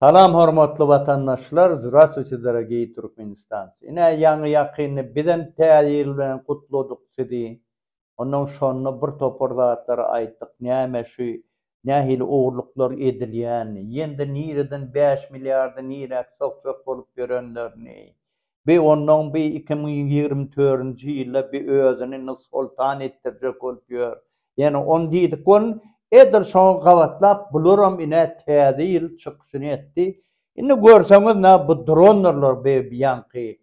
Salam hormatly watandaşlar zraswitidara gey turkmenistan ine ýaňy ýakyndy bizem täze ýyl bilen gutladyk sizi ondan şonda bir topar zatlary aýtdyk näme şu nähili ogurlyklar edilýänini ýende nireden bäş milliardy niräk sokjak bolup ýörenlerini Bi onnoň bi iki müň ýigrimi törünji ýylda bi özüni nussoltan etdirjek bolup ýör. Ýene on diýdik bolun. Edil şoňa gabatlap bularam ine täze ýyl çykyşyny etdi. Indi görseňiz nä bu dronlarlar bi bianky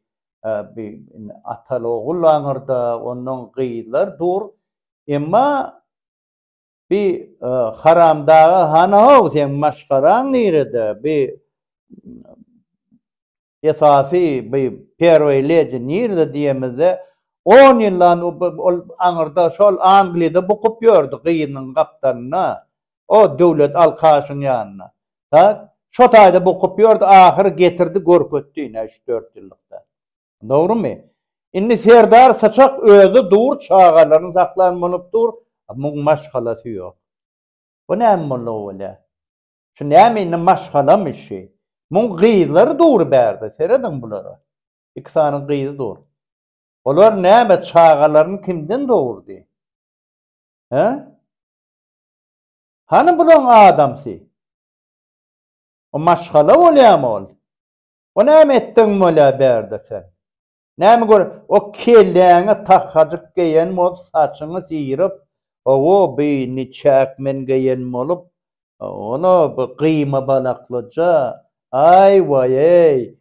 bi indi atal ogul aňyrda onnoň gyzlar dur. Emma bi haramdaga hany how seň maşgalaň nirede bi esasy bu Perway Lady nirde diýemizde, on ýyldan ol aňyrda şol Angliýada bukup ýördi gyzynyň gapdalynda, o Döwlet Alkaşyň ýanynda. Tak, şo taýda bukup ýördi, ahyry getirdi görkezdi ine üç-dört ýyllykda. Dogrymy? Indi Serdar Syçak özi dur, çagalaryny saklan bolup dur, muň maşgalasy ýok. Bu näme boldy owalä? Şu näme indi maşgalamy şi. Muň gyzlary dur bärde serediň bulara. Iki sany gyzy dur. Olar näme çagalaryny kimden dogurdy? He? Hany bulaň adamsy? O maşgala bolýamy ol? O näme etdigiň bolýa bärde sen? Näme görüp, o kelläňe tahhajyk geýen bolup, saçyňy syryp, hawa, bi niçäk men geýen bolup, ol-a bi gyýma balaklyja, aý-waý-eý,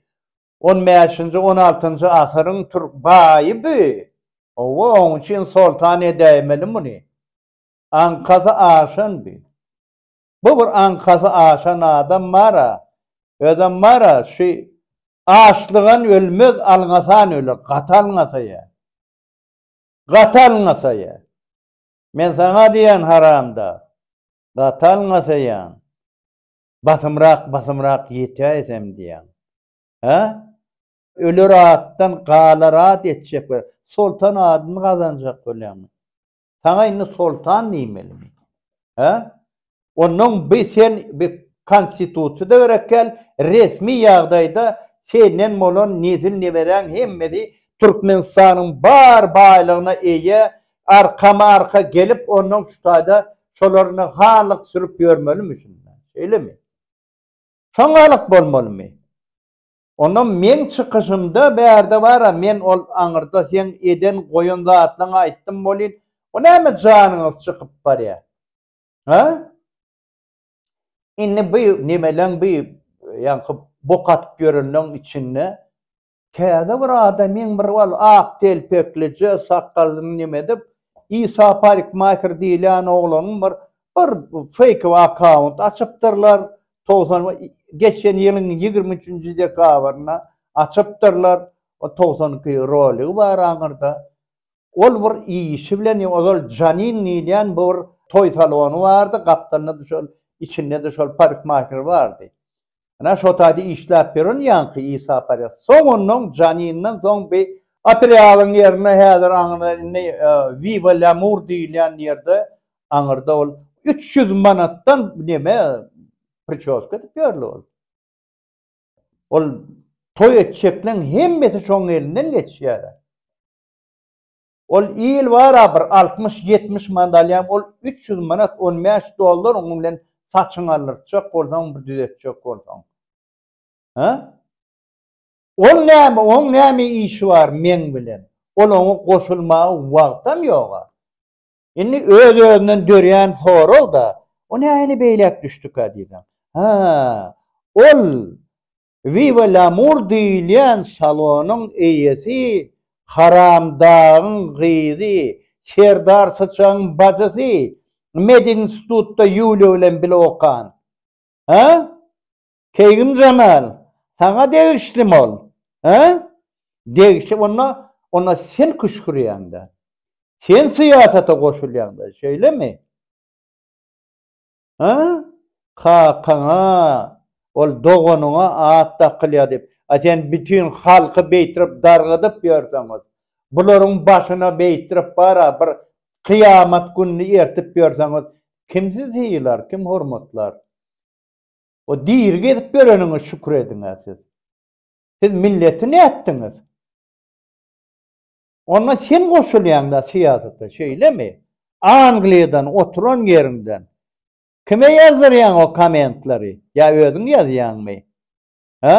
on bäşinji, on altynjy asyryň türk baýy bi, hawa, oň üçin soltan edäýmeli muny. Aňkasy aşan bi. Bu bir aňkasy aşan adam bar-a, özem bar-a, şü açlygan ölmez, alňasan öler, gaty alňasaýa. Gaty alňasaýa. Men saňa diýýän, haramdag, gaty alňasaýaň. Basymrak, basymrak ýetäýsem diýýäň. Hä? Öler atdan galar at etjek we soltan adyny gazanjak bolýaňmy? Saňa indi soltan diýmelimi? Hä? Ondan bi sen bi konstitusiýada berekkel resmi ýagdaýda senden bolan nezil neberäň hemmesi Türkmenistanyň bar baýlygyna eýe arkama arka gelip ondan şu taýda şolaryny halyk sürüp ýörmelimi şunda? Şeýlemi? Şoňalyk bolmalymy? Onda meň çykyşymda bärde bara men ol aňyrda seň eden goýan zatlaň aýtdym bolýyn o näme janyňyz çykyp barýa ha indi bu nemeleň bu ýaňky bok atyp ýörenleň içinde täze bir adamyň bir ol ak telpeklije sakgalyny neme edip Isa parikmaker diýilýän oglanyň bir bir feýkowy akkaunt açypdyrlar togsan geçen ýylyň ýigrimi üçünji dekabrynda açypdyrlar, o togsan iki roligi bar aňyrda. Ol bir işi bilen ýa ozal Janin diýilýän bir toý salony bardy, gapdalynda-da şol, içinde-de şol parikmaher bardy. Ynha, şo taýda işläp ýören ýaňky Isa Parýas. Soň onnoň Janinden soň bi Otrýadyň ýerine häzir aňyrda indi Viva Lamur diýilýän ýerde aňyrda ol üç ýüz manatdan neme pričoska edip ýörli ol. Ol toý etjekleň hemmesi şoň elinden geçýär. Ol il bara bir altmyş, ýetmiş manat alýar, ol üç ýüz manat, on bäş dollar onuň bilen saçyňy aldyrtjak bolsaň, bir düzetjek bolsaň. Hä? Ol näme, oň näme işi bar meň bilen? Ol oňa goşulmaga wagtam ýog-a. Indi öz-özünden dörýän sorag-da, O nähili beýläk düşdükä diýseň? Hä, ol Viva Lamur diýilýän salonyň eýesi Haramdagyň gyzy, Serdar Syçagyň bajysy, medinstitutda Ýuliýa bilen bile okan. Hä? Keýgim Jamal, saňa degişlimi ol? Hä? Degişip onda, onda sen küşgürýäň-dä. Sen syýasata goşulýaň-da, şeýlemi? Hä? Kakaňa, ol doganyňa at dakylýar diýip, a sen bütin halky beýtirip dargadyp ýörseňiz, bularyň başyna beýtirip bar-a bir kyýamat gününi ertip ýörseňiz, kim sizi sylar, kim hormatlar? O diri gezip ýöreniňe şükür ediň-ä siz. Siz milleti nätdiňiz? Onda sen goşulýaň-da syýasata, şeýlemi? Angliýadan oturan ýeriňden kime ýazdyrýaň o kommentlary? Ýa özüň ýazýaňmy? Hä?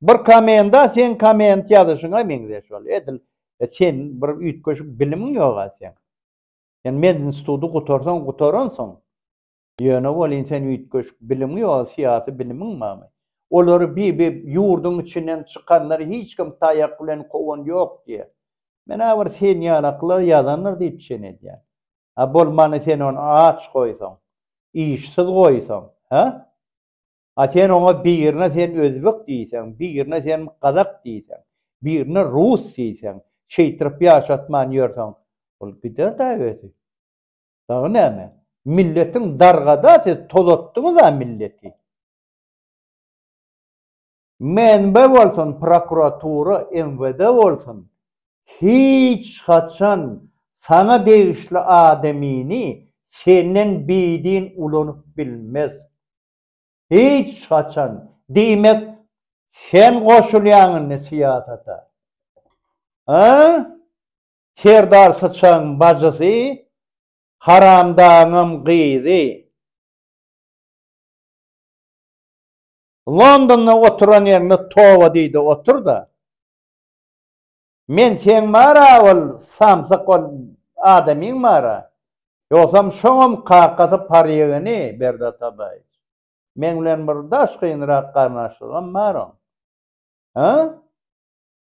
Bir kommenta seň komment ýazyşyňa meňzeş ol. Edil sen bir üýtgeşik bilimiň ýog-a seň. Sen medinstituty gutarsaň gutaransyň. Ýöne welin sen üýtgeşik bilimiň ýa syýasy bilimiň barmy? Olary bi-bi ýurduň içinden çykanlary hiç kim taýak bilen kowan ýok diýýär. Men-ä bir sen ýalaklar ýazandyr diýip çen edýän. A bolmany sen ony aç goýsaň, işsiz goýsaň, hä? A sen oňa birine sen özbek diýseň, birine sen gazak diýseň, birine rus diýseň, şeýtirip ýaşatman ýörseň, ol gider-dä özi. Dagy näme? Milletiň dargada siz tolatdyňyza milleti. MNB bolsun prokuratura MWD bolsun hiç haçan saňa degişli adamyny senden bidin ulanyp bilmez. Hiç haçan. Diýmek sen goşulýaň indi syýasata. Hä? Serdar syçagyň bajysy, haramdagyňam gyzy. Londonda oturan ýeriňde toba diýde otur-da. Men seň bar-a ol samsyk ol adamyň bar-a. Ýogsam şoňam kakasy parýegini Berdi Atabaýew. Meň bilen bir daş gynrak garyndaşlygam bar oň. Hä?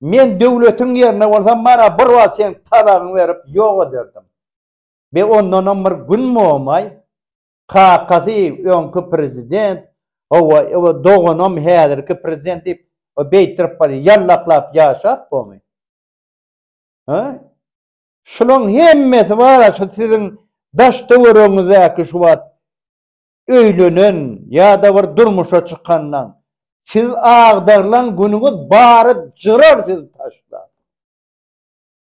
Men döwletiň ýerinde bolsam, mana bir wagt seň talagyňy berip ýok ederdim. Be ondanam bir gün bolmaý. Kakasy öňki prezident, hawa, o doganam häzirki prezident diýip, o beýtirip barýar, ýallaklap ýaşap bormy? Hä? Şularyň hemmesi bar-a, şu siziň daş-töweregiňizdäki şu wagt öýlenen ýa-da bir durmuşa çykandan siz agdarylan günüňiz bary jyrar sizi taşlap.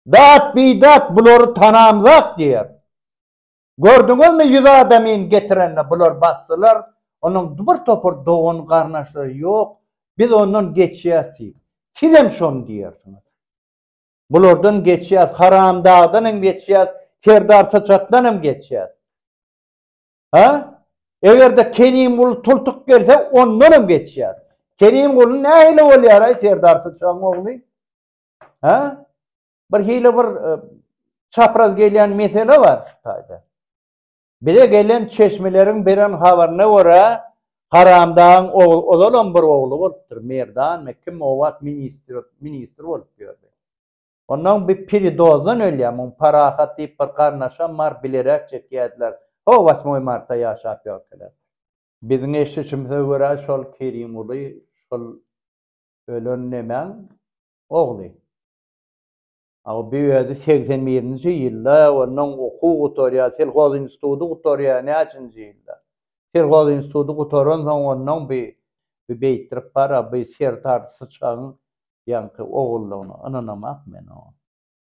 Dat-bidat bulary tanamzak diýer. Gördüňizmi ýüz adamyn getirende bular basdylar, onuň bir topar dogan-garnaşlary ýok, biz ondan geçýäs diý. Sizem şony diýersiňiz. Bulardan geçýäs, Haramdagdan hem geçýäs, Serdar Syçakdan hem geçýäs. Ha? Eger-de Kerimguly tultuk gelse, ondan hem geçýär. Kerimguly nähili bolýar, ay, Serdar Syçagyň ogly? Ha? Bir hili bir e, çapraz gelýän mesele bar şu taýda. Bize gelen çeşmeleriň beren habaryna görä, Haramdagyň ogly, ozalam bir ogly bolupdyr, Merdan, kim o wagt ministr, ministr bolup ýördi. Onnoň bir piri dozdan ölýär, muň Parahat diýip bir garnaşam bar, bileräk çekýärdiler. Ho, Wasmoý marta ýaşap ýörkäler. Biziň eşdişimize görä, şol Kerimguly şol ölen nemäň ogly. A o bir özi segsen birinji ýylda, onnoň okuw gutarýar, selhoz institudy gutarýar, näçinji ýylda. Selhoz institudy gutaransoň, onnoň bir beýtdirip bar, a bir Serdar Syçagyň ýaňky ogullygyna ynanamak men oňa.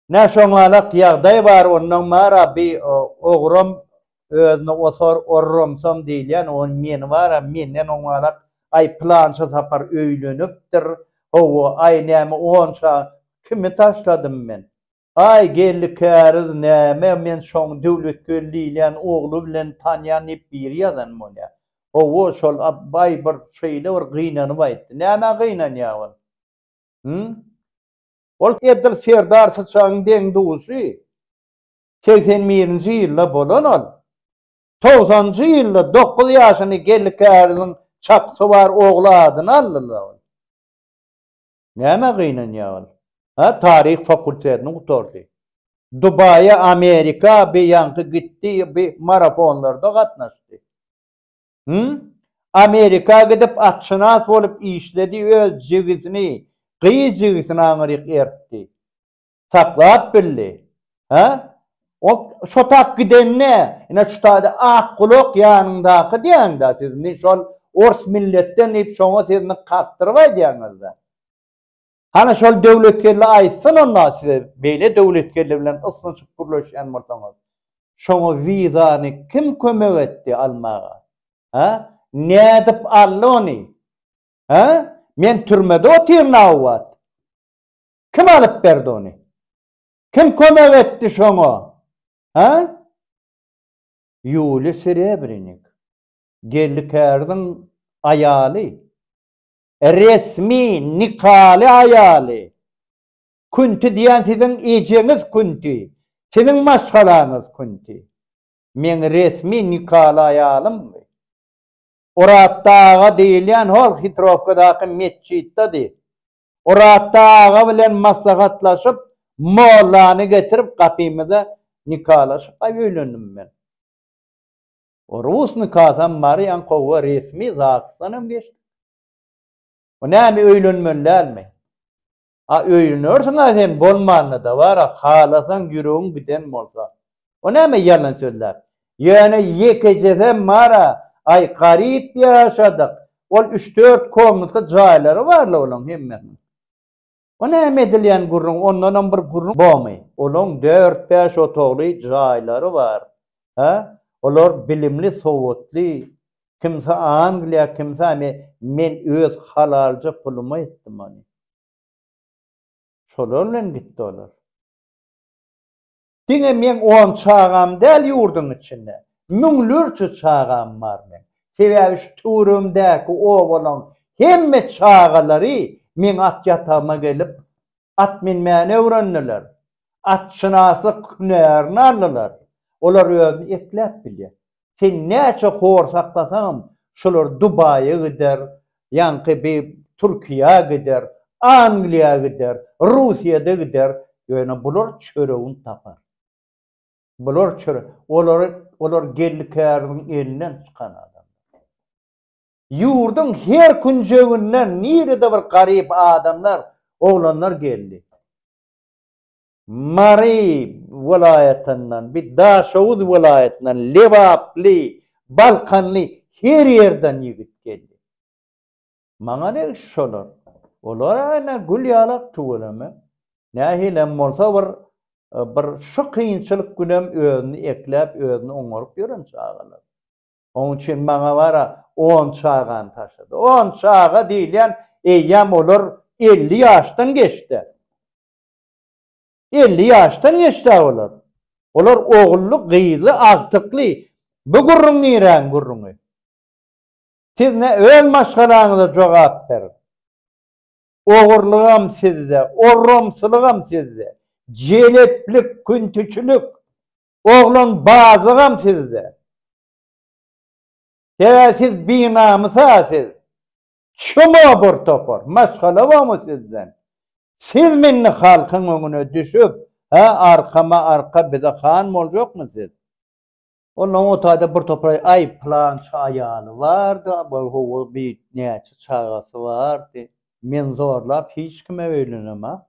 Nä şoňalak ýagdaý bar ondan bar-a bi ogram özüne osar orramsam diýilýän oň meni bar-a menden oňalak aý pylança sapar öýlenipdir, hawa aý näme onça kimi taşladym men. Aý, Geldi käriz näme, men şoň Döwletgeldi diýilýän ogly bilen tanýan diýip biri ýazan bolýa. Hawa, şol Abbaý bir şeýle bir gynanyp aýtdy. Nämä gynanýa ol? Hümm? Ol edil Serdar Syçagyň deň-duşy. Segsen birinji ýylda bolan ol. Togsanjy ýylda dokuz ýaşyny Geldi käriziň çapysy bar ogly adyna aldylar. Nämä gynanýar ol? Hä, taryh fakultetini gutardy. Dubaýa, Amerika bi ýaňky gitdi, bi marafonlarda gatnaşdy. Hüm? Amerika gidip atşynas bolup işledi, öz jigisini, gyz jigisini aňryk ertdi. saklap bildi. Hä? O şotap gidende, ine şu taýda ak gulak ýanyňdaky diýäňdä siz, men şol ors milletden diýip şoňa sizni kakdyryp aýdýaňyzda. Hany şol döwletgeldi aýtsyn onda size beýle döwletgeldi bilen ysnyşyp gürleşýän bolsaňyz. Şoňa wizany kim kömek etdi almaga? Hä? Nädip aldy ony? Hä? Men türmede otyryn a wagt. Kim alyp berdi ony? Kim kömek etdi şoňa? Hä? Ýuliýa Serebrinik, geldi kärziň aýaly, resmi nikaly aýaly. Kunti diýen siziň ejeňiz Kunti, siziň maşgalaňyz Kunti. Meň resmi nikaly aýalymmy? Oratda aga diýilýän hol Hitrowkadaky metjitdedi. Oraz aga bilen maslahatlaşyp, mollany getirip gapymyza nikalaşyp-aý öýlendim men. O rus nikasam bar, ýankowa resmi zagsdanam geçdik. O näme öýlenmeli dälmi? A öýlenersiň-ä sen bolmanda-da bar-a, halasaň ýüregiň giden bolsa. O näme ýalan sözlär? Ýöne ýekejesem bar-a, aý, garyp ýaşadyk. Ol üç-dört komnatly jaýlary bar-la olaň hemmesiniň. O näme edilýän gürrüň, ondanam bir gürrüň bormy? Olaň dört-bäş otagly jaýlary bar. Hä? Olar bilimli, sowatly. Kimsi Angliýa, kimsi Ame. Men öz halalja puluma etdim ony. Şolar bilen gitdi olar. Diňe meň on çagam däl ýurduň içinde. Müňlerçe çagam bar meň. Sebäbi şu töweregimdäki obalaň hemme çagalary meň at ýatagyma gelip, at minmäni öwrendiler. Atşynaslyk hünärini aldylar. Olar özüni ekläp bilýär. Sen näçe hor saklasaňam, şolar Dubaýa gider, ýaňky bi Türkiýä gider, Angliýa gider, Russiýa-da gider, ýöne bular çöregini tapar. Bular çöre, olary, olar geldi-käriniň elinden çykan adamlar. Ýurduň her künjeginden nirede bir garyp adamlar, oglanlar geldi. Mary welaýatyndan, bir Daşoguz welaýatyndan, lebaply, balkanly her ýerden ýigit geldi. Maňa ne iş şolar? Olar ene gül ýalak tüweleme. Nähilem bolsa bir bir şu kynçylyk günem özüni ekläp, özüni oňaryp ýören çagalar. Oň üçin maňa bara on çagany taşlady. On çaga diýilýän eýýäm olar elli ýaşdan geçdi. Elli ýaşdan geçdi-ä olar. Olar ogully, gyzly, agtykly. Bu gürrüň niräň gürrüňi? Siz ne öz maşgalaňyza jogap beriň. Ogurlygam sizde, orramsylygam sizde, jeleplik, küntüçilik, oglanbazlygam sizde. He, siz binamys-a siz. Çuba bir topar. Maşgala barmy sizden? Siz mindi halkyň öňüne düşüp, hä arkama arka bize han boljakmy siz? Ondan o taýda bir topar aý pylança aýaly bardy, bir howwa bi näçe çagasy bardy. Men zorlap hiç kime öýlenemok.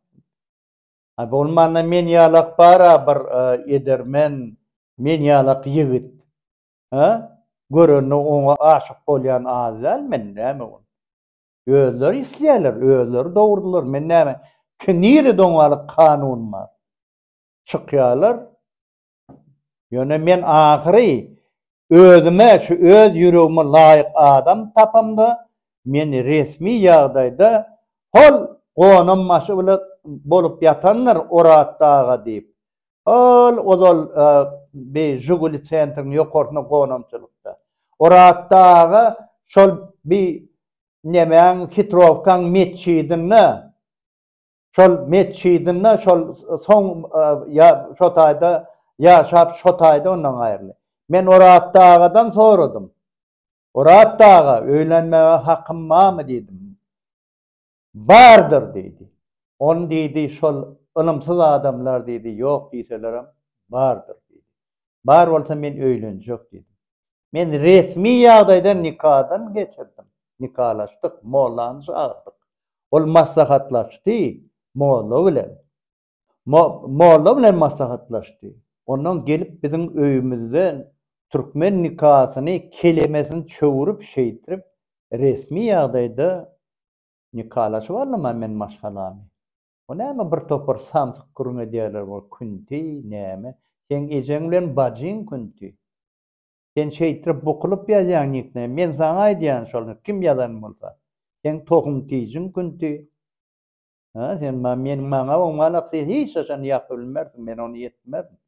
Aý bolmanda men ýalak bar-a bir edermen, men ýalak ýigit. Hä? Görende oňa aşyk bolýan az däl, men näme ol? Özleri isleýärler, özleri dogurdylar, men näme? Ki nirede oňalyk kanun bar? Çykýarlar. Ýöne men ahyry özüme şu öz ýüregime laýyk adam tapamda, meni resmi ýagdaýda hol gonambaşy bilen bolup ýatandyr Oraz daga diýip, Ol ozal bi Žuguli Centriň ýokarsyna gonamçylykda. Oraz aga şol bi nemäň Hitrowkaň metjidinde, şol metjidinde şol soň ýa şo taýda ýaşap şo taýda ondan aýryldy. Men Oraz agadan soradym. Oraz aga öýlenmege hakym barmy diýdim. Bardyr diýdi. Ony diýdi, şol ylymsyz adamlar diýdi, ýok diýselerem, bardyr diýdi. Bar bolsa men öýlenjek diýdim. Men resmi ýagdaýda nikadan geçirdim. Nikalaşdyk, mollany çagyrdyk. Ol maslahatlaşdy molla bilen. Molla bilen maslahatlaşdy. Ondan gelip biziň öýümizden türkmen nikasyny kelemesini çöwürip şeýdip resmi ýagdaýda nikalaşyp aldym a men maşgalamy. Bu näme bir topar samsyk gürrüň edýärler bol künti näme. Seň ejeň bilen bajyň künti. Sen şeýdip bukulyp ýazýaň niknemi men saňa aýdýan şol kim ýazan bolsa. Seň tohum-tijin künti. Hä, sen ma, men, maňa oňmanak sen hiç haçan ýapy bilmersiň, men ony ýetmerin.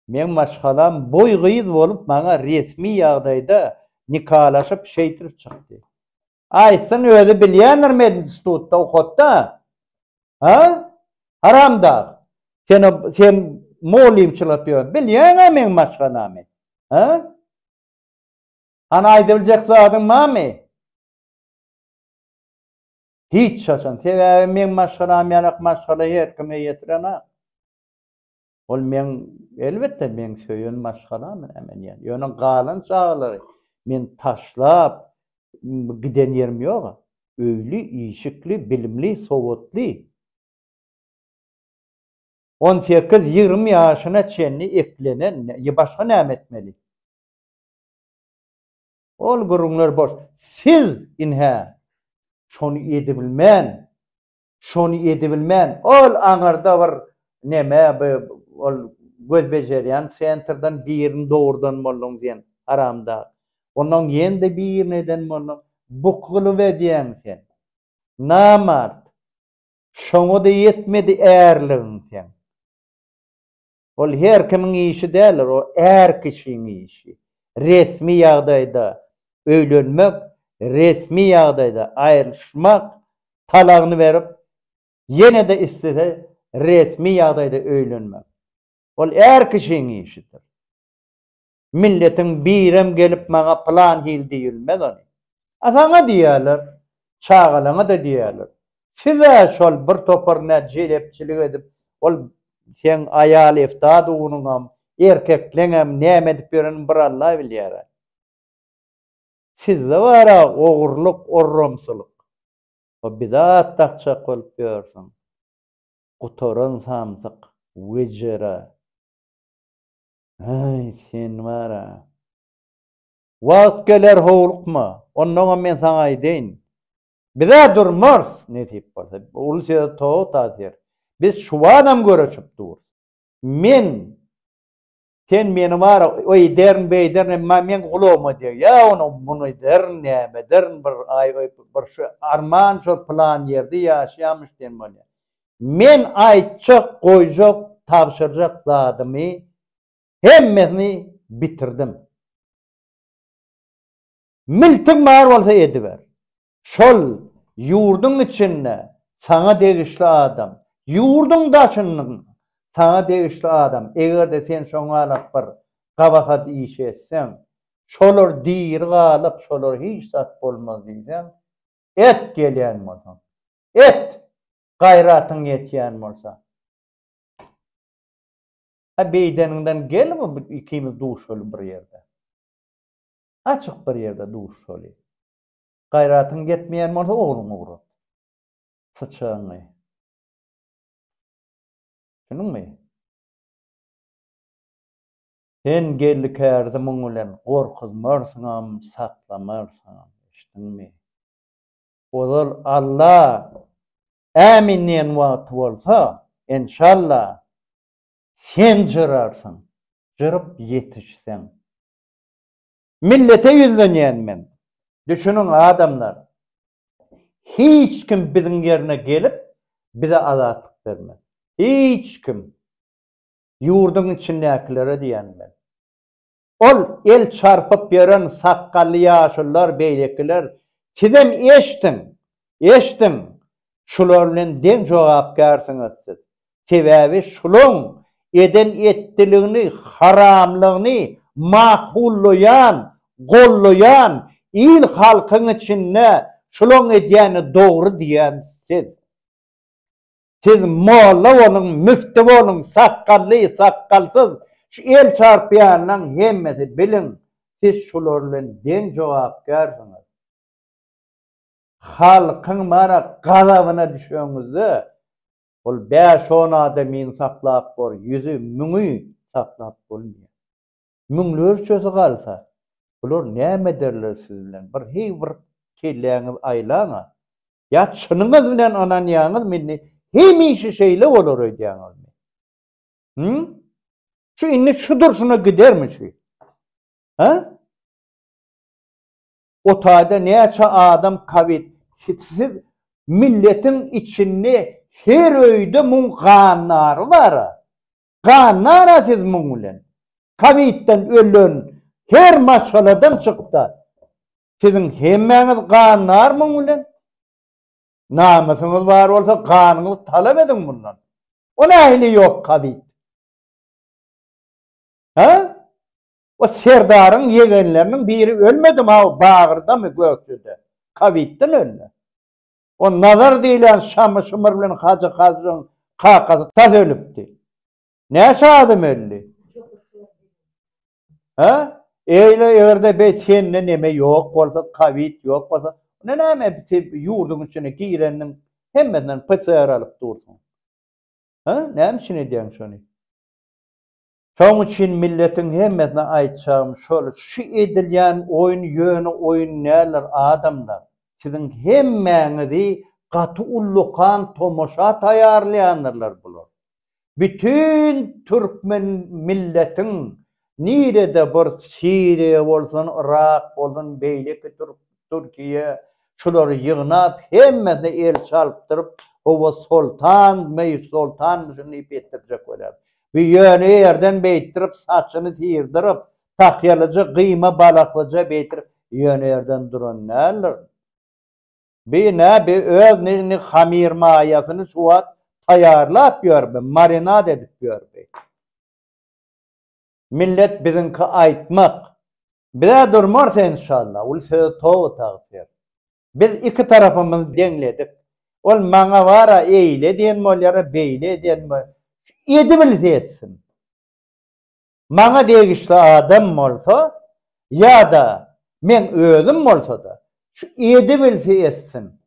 Meň maşgalam boý gyz bolup maňa resmi ýagdaýda nikalaşyp şeýdrip çykdy. Aýtsyn özi bilýändir medinstitutda okatda. Hä? Haramdag. Sen o, sen mugallymçylyk ýör, bilýäňä meň maşgalamy. Hä? Hany aýdybiljek zadyň barmy? Hiç haçan. Sebäbi meň maşgalam ýalak maşgala her kime ýetirenak. Ol meň, elbetde, meň söýen maşgalam näme diýýän. Ýöne galan çagalary men taşlap giden ýerim ýog-a. Öýli, işikli, bilimli, sowatly. On sekiz, ýigrimi ýaşyna çenli eklenen, başga näme etmeli? Ol gürrüňler boş. Siz, ynha, şony edibilmän, şony edibilmän, ol aňyrda bir neme, bi, ol göz bejerýän sentrden birini dogurdan bolduň sen, haramdag. Onnoň ýene-de birini eden bolduň. Bu kylyp edýäň sen. Namart. Şoňa-da ýetmedi ärligiň seň. Ol her kimiň işi däldir, ol är kişiň işi. Resmi ýagdaýda öýlenmek, resmi ýagdaýda aýrylyşmak talagyny berip, ýene-de islese resmi ýagdaýda öýlenmek. Ol är kişiň işidir. Milletiň birem gelip maňa plan hil diýilmez ony. A saňa diýerler, çagalaňa-da diýerler. Siz-ä şol bir topar nä jelepçilik edip, ol seň aýal eftadugyňam, erkekleňem näme edip ýörenini bir Alla bilýär-ä. Sizde bar-a ogurlyk, orramsylyk. O bidat dakjak bolup ýörsüň. Gutaran samsyk, wejera. Äý, sen bar-a! Wagt geler, howlukma. Onnoňam men saňa aýdaýyn. Biz-ä durmarys, nesip bolsa. Uly söz tow tasyr. Biz şubatam görüşip durus. Men, sen meni bar-a, öýderin, beýderin, meň gulagyma degýä ony, muny derin, näme derin, bir, aý, bir şu arman şol pylan ýerde ýaşaýamyş diýen bolýar. Men aýtjak, goýjak, tabşyrjak zadymy hemmesini bitirdim. Miltiň bar bolsa ediber. Şol ýurduň içinde saňa degişli adam, ýurduň daşyndan saňa degişli adam, eger-de sen şoňalak bir gabahat iş etseň, şolar diri galyp, şolar hiç zat bolmaz diýseň, et gelýän bolsaň. Et! Gaýratyň ýetýän bolsa. Hä, beýdeniňden gel bu ikimiz duşaly bir ýerde. Açyk bir ýerde duşaly. Gaýratyň ýetmeýän bolsa ogluňy ugrat. Syçagyňy. Düşündiňmi? Sen Geldi kärde muň bilen gorkuzmarsyňam, saklamarsyňam. Eşitdiňmi? Ozal Alla ämin diýen wagty bolsa, enşalla, sen jyrarsyň, jyryp ýetişseň. Millete ýüzlenýän men. Düşüniň, adamlar, hiç kim biziň ýerine gelip, bize azatlyk bermez. Hiç kim. Ýurduň içindäkilere diýýän men. Ol el çarpyp ýören sakgally ýaşulular beýlekiler, sizem eşdiň, eşdiň, şular bilen deň jogapkärsiňiz siz. Sebäbi şulaň eden etdiligini, haramlygyny makullaýan, gollaýan, il-halkyň içinde şulaň edýäni dogry diýýän siz. Siz molla boluň, müfti boluň, sakgally, sakgalsyz, şu el çarpýanlaň hemmesi biliň, siz şular bilen deň jogapkärsiňiz. Halkyň mana gazabyna düşeňizde, ol bäş-on adamyny saklap bor, ýüzi, müňi saklap bolmaýar. Müňlerçesi galsa, bular näme ederler siz bilen? Bir heý bir kelläňizi aýlaň-a. Ýa çynyňyz bilen ynanýaňyzmy indi? Hemişe şeýle bolar öýdýäňizmi? Hü? Şu indi şu durşuna gidermi şu? Ha? O taýda näçe adam kowid hitsiz milletiň içinde her öýde muň gannary bar. Gannara siz muň bilen. Kowidden ölen her maşgaladan çykda. Siziň hemmäňiz gandar muň bilen? Namysyňyz bar bolsa ganyňyzy talap ediň mundan. O nähili ýok kazyýet? Hä? O serdaryň ýegenleriniň biri ölmedim ha o bagyrdamy gökjede? Kazyýetden öldi. O Nazar diýlen Şamy Şymyr bilen Hajy Hajyň kakasy tas ölüpdi. Näçe adam öldi? Ha? Eýle eger-de beý sende neme ýok bolsa, kowid ýok bolsa, onda näme sen ýurduň içine girendiň, hemmesinden PCR alyp dursuň? Ha? Näme üçin edýäň şony? Şoň üçin milletiň hemmesine aýtjagym şol, şu edilýän oýun ýöne oýun däldir, adamlar. Siziň hemmäňizi gaty ullakan tomaşa taýýarlaýandyrlar bular. Bütin türkmen milletiň nirede bir Siriýa bolsun, Yrak bolsun, beýleki türk Türkiýe şulary ýygnap hemmesine el çalpdyryp howa soltan meý soltanmyşyn diýip etdirjek bolýar. Bu ýöne ýerden beýtdirip saçyny syrdyryp, tahýalyja gyýma balaklyja beýtdirip ýöne ýerden duran däldir. Bi nä bi öz nigni hamir maýasyny şu wagt taýýarlap ýör bi marinad edip ýör bi. Millet biziňki aýtmak. Bizä durmars enşalla ul söz towy tagsyr. Biz iki tarapymyz deňledik. Ol maňa bara eýle diýen bolýara beýle edýän bolýar. Edibilse etsin. maňa degişli adam bolsa ýa-da meň özüm bolsa-da, şu edibilse etsin,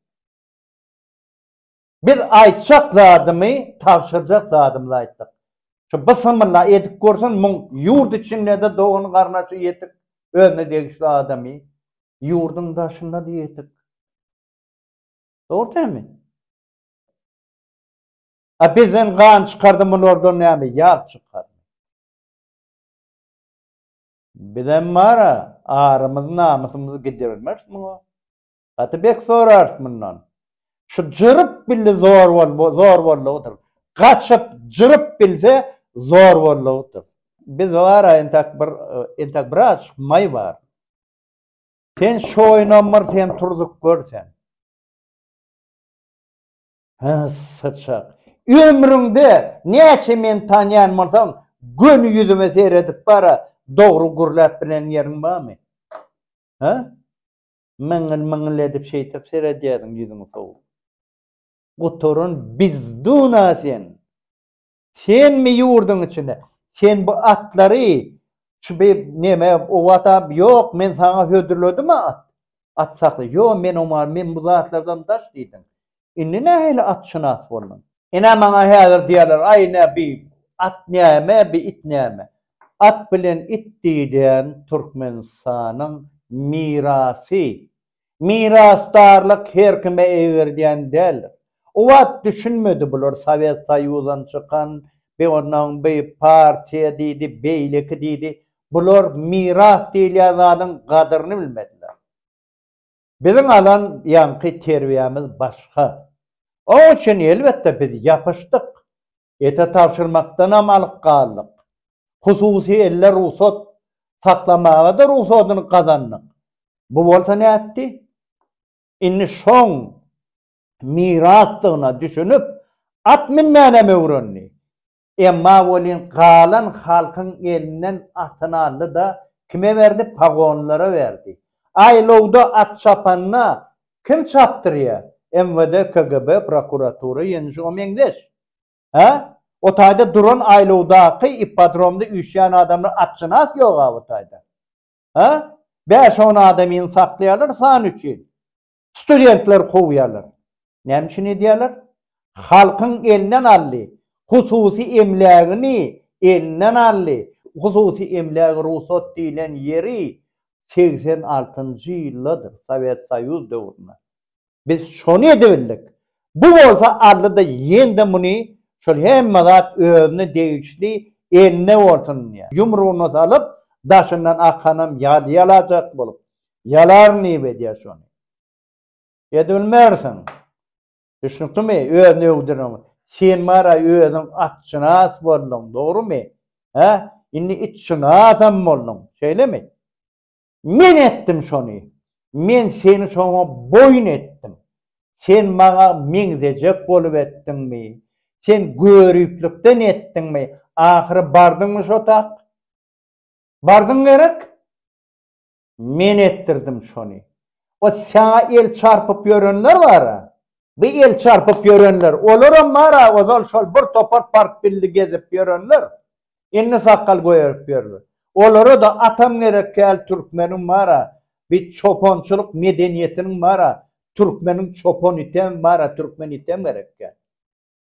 biz aýtjak zadymy, tabşyrjak zadymyzy aýtdyk. Şu bysymylla edip görsin, muň ýurt içinde-de dogan-garnaşy ýetik, özüne degişli adamy, ýurduň daşynda-da ýetik. Dogry dälmi? A bizden gan çykardy mulardan näme ýag çykar. Bizem bara arymyz namysymyzy gidirmeris muňa. Gaty bek sorars mundan. Şu jyryp bildi zor bol zor bollugydyr. Gaçyp jyryp bilse zor bollugydyr. Biz bara entak bir entak biraz maý bar. Sen şoýnam bir sen turzup gör sen. Hä, syçak. Ömrüňde näçe meni tanýan bolsaň, göni ýüzüme seredip bar-a, dogry gürläp bilen ýeriň barmy? Hä? Myňňyl-myňňyl edip şeýtip seredýärdiň ýüzüňi sowup. Gutaran bizduna sen! Senmi ýurduň içinde? Sen bu atlary şu bi neme o wata ýok men saňa hödürledim at. At sakly. Ýo men oma men bu zatlardan daş diýdim. Indi nähili atşynas bolduň? Ine maňa häzir diýerler aý ne bi at näme bi it näme. At bilen it diýlen Türkmenistanyň mirasy Mirasdarlyk her kime eýgerdýän däldir. O wagt düşünmedi bular Sowet Soýuzdan çykan, bi ondan bi partiýa diýdi, beýleki diýdi. Bular miras diýilýän zadyň gadyryny bilmediler. Biziň alan ýaňky terbiýämiz başga. Oň üçin elbetde biz ýapyşdyk. Ete tabşyrmakdanam alyk galdyk. Hususy elle rugsat saklamaga-da rugsadyny gazandyk. Bu bolsa nätdi? Indi şoň mirasdygyna düşünip, at münmänem öwrendi. Emma welin galan halkyň elinden atyny aldy-da, kime berdi? Pagonlara berdi. Aýlawda at çapanda Kim çapdyrýa? MWD, KGB, prokuratura ýene şuňa meňzeş. Hä? O taýda duran aýlawdaky ippodromda üýşýän adamlar atşynas ýog-a o taýda. Hä? Bäş-on adamyny saklaýarlar san üçin. Studentleri kowýarlar. Näme üçin edýärler? Halkyň elinden aldy. Hususy emlägini elinden aldy. Hususy emlägi rugsat diýlen ýeri segsen altynjy ýylladyr, Sowet Soýuz döwründe. Biz şony edebildik. Bu bolsa aldy-da, ýendi muny şol hemme zat özüne degişli eline bolsun diýýär. Ýumrugyna salyp, daşyndan akanam ýaly ýalajak bolup, ýalaryn diýip edýär şony. Edibilmersiň. Düşnükdimi? Özüni öwdüren. Sen bara özüň atşynas bolduň, dogrymy? Hä? Indi itşynasam bolduň. Şeýlemi? Men etdim şony. Men seni şoňa boýun etdim. Sen maňa meňzejek bolup etdiňmi? Sen göriplikden etdiňmi? Ahyry bardyňmy şo tak? Bardyň gerek? Men etdirdim şony. O saňa el çarpyp ýörenler bar-a. Bu el çarpyp ýörenler. Olaram bar-a, ozal şol bir topar partbilli gezip ýörenler. Indi sakgal goýarip ýörler. Olara-da atam gerek däl, türkmeniň bar-a, bi çopançylyk medeniýetiniň bar-a, türkmeniň çopan item bar-a, türkmen item gerek däl.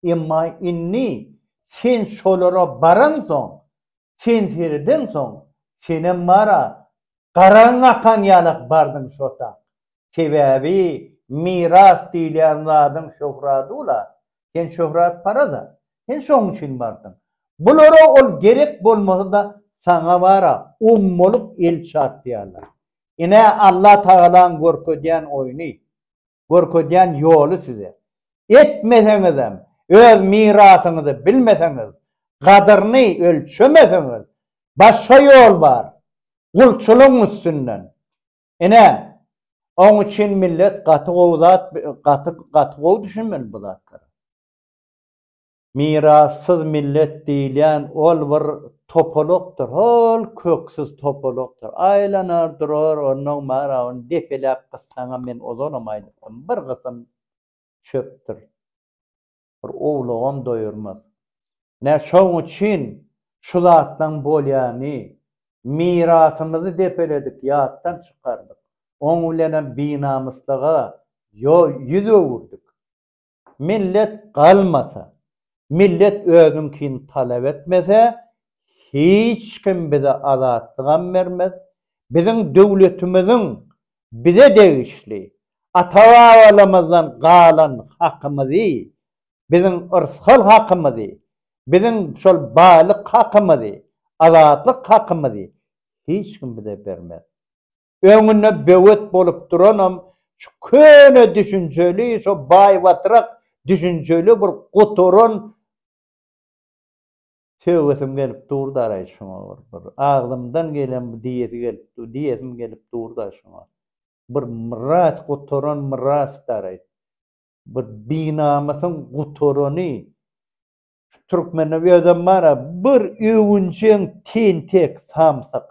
Emma indi sen şolara baransoň, sen seredensoň, senem bar-a, garaň akan ýalak bardyň şota. Sebäbi miras diýilýän zadyň şöhrady-la, sen şöhratparaz-a, sen şoň üçin bardyň. Bulara ol gerek bolmasa-da, saňa bar-a, ommalyk el çarpýarlar. Ine, Allatagalaň görkezýän oýny. görkezýän ýoly size. Etmeseňizem, öz mirasyňyzy bilmeseňiz, gadyryny ölçemeseňiz, başga ýol bar, gulçulygyň üstünden. Ine, oň üçin millet gaty gowy zat, gaty, gaty gowy düşünmeli bu zatlara. Mirassyz millet diýilýän ol bir topalakdyr, hol köksüz topalakdyr. Aýlanar durar, onnoň bar, a ony depeläp gyssaňam, men ozalam aýdypdym, bir gysym çöpdür. Bir owlagam doýurmaz. Ine, şoň üçin şu zatlaryň bolýany, mirasymyzy depeledik, ýatdan çykardyk. Oň bilenem binamyslyga ýüz öwürdik. Millet galmasa, millet özüňkini talap etmese, hiç kim bize azatlygam bermez. Biziň döwletimiziň bize degişli, ata-babalarymyzdan galan hakymyzy, biziň yrsgal hakymyzy, biziň şol baýlyk hakymyzy, azatlyk hakymyzy hiç kim bize bermez. Öňünde böwet bolup duranam şu köne düşünjeli, şo baýbatrak düşünjeli bir gutaran söwesim gelip durdaray şuňa bir bir agzymdan gelen bir diýesi gelip dur diýesim gelip durda şuňa. Bir myras gutaran myrasdaray. Bir binamysyň gutarany. Şu türkmende özem bara bir öwünjeň tentek samsyk.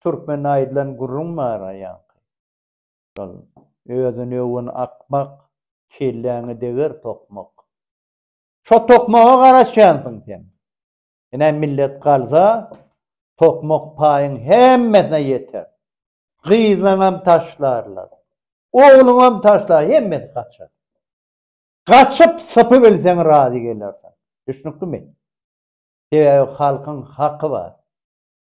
Türkmen aýdylan gürrüň bar-a ýaňky. Şol, Özüni öwen akmak, kelläňi deger tokmak. Şo tokmaga garaşýansyň sen. Ine, millet galsa, tokmak paýyň hemmesine ýeter. Gyzyňam taşlarlar. Ogluňam taşlar, hemmesi gaçar. Gaçyp, sypybilseň razy gelersiň. Düşnüklimi? Sebäbi halkyň haky bar.